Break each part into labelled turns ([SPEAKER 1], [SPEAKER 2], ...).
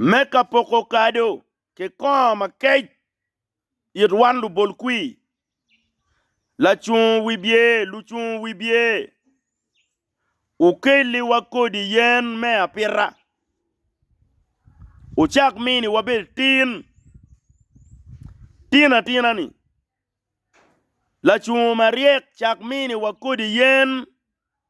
[SPEAKER 1] Me ka poko kado ki kongo makec it wan lubol kwir, lacung wibye, lucung wibye, wukelliwa kodi yen me apita, wucak mini wabed tin tinatina-ni, lacung maryek cak miniwa kodi yen.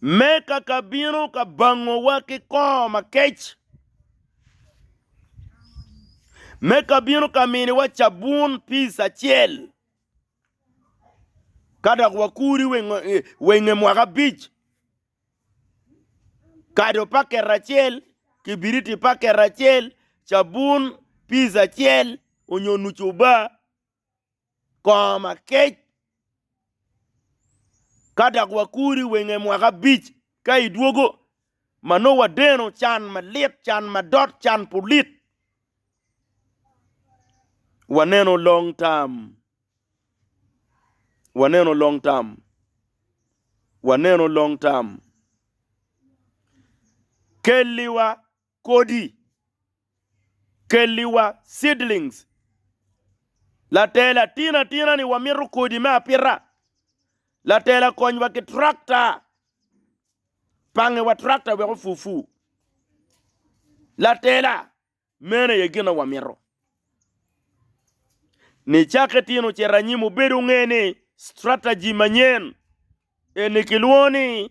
[SPEAKER 1] me kaka bino ka bangowa ki kor makec, me ka bino ka miniwa cabun pic acel, ka dok wakuri wa i nge mwaka abic, kado paket acel, kibiriti paket acel, cabun pic acel onyo nucuba. kor makec, ka dok wakuri wenge mwaka abic ka i dwogo, ma nongo wadeno can malit, can madot, can pulit. Waneno long term, waneno long term, waneno long term. Kelliwa. Kodi, Kelliwa seedlings, Latela, Tin atina ni wamito kodi me apita. Latela, Konywa ki tractor, Pangewa tractor wek ofu fu. Latela, Meno aye gin ma wamito. Nicakke tin ocito anyim, obedo nge ni strategy manyen eni kilwongo ni.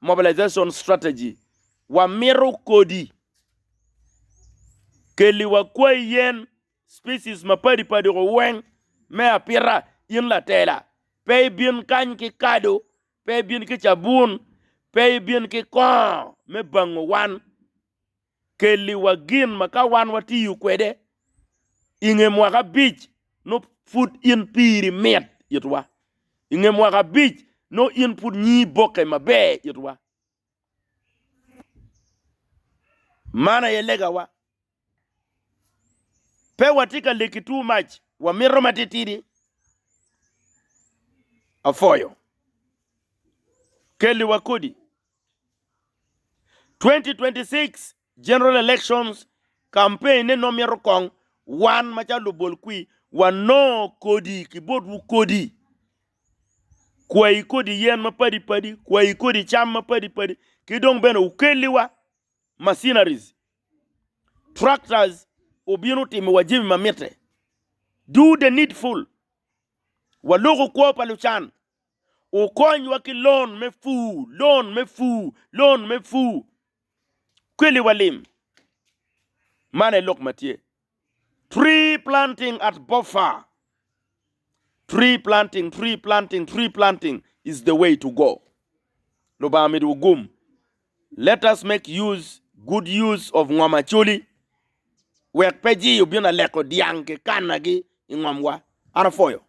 [SPEAKER 1] Mobilization Strategy, Wamito kodi, kelli wa kwai yen, species, mapadi padi ko weng me apita in latela, pe ibin kany ki kado, pe ibin ki cabun, pe ibin ki kongo me bango wan. Kelliwa gin ma ka wan watiyo kwede i nge mwaka abic, nongo pud in piri mit itwa. I nge mwaka abic, nongo in pud nyingi bokke maber itwa. Man aye legawa. Pe watye ka leki too much, wamito matitidi. Apwoyo. Kelliwa kodi. 2026 General Elections Campaign ne nongo myero kong wan macalo lubol kwi wanongo kodi ki botwu kodi kwayi kodi yen ma padi padi kwayi kodi cam ma padi padi ki dong bene wukelli wa machineries tractors obino timo wa jami ma mitte do the needful waloko kwo pa lucan Wukonywa ki lon me pur, lon me pur, lon me pur. Kweliwa lim. Man aye lok ma tye. Tree planting at Bofa. Tree planting, tree planting, tree planting is the way to go. Lubanga omidowa gum. Let us make use, good use of ngom Acholi. Wek pe jii obin aleko dyang ki kannagi i ngomwa. An apwoyo.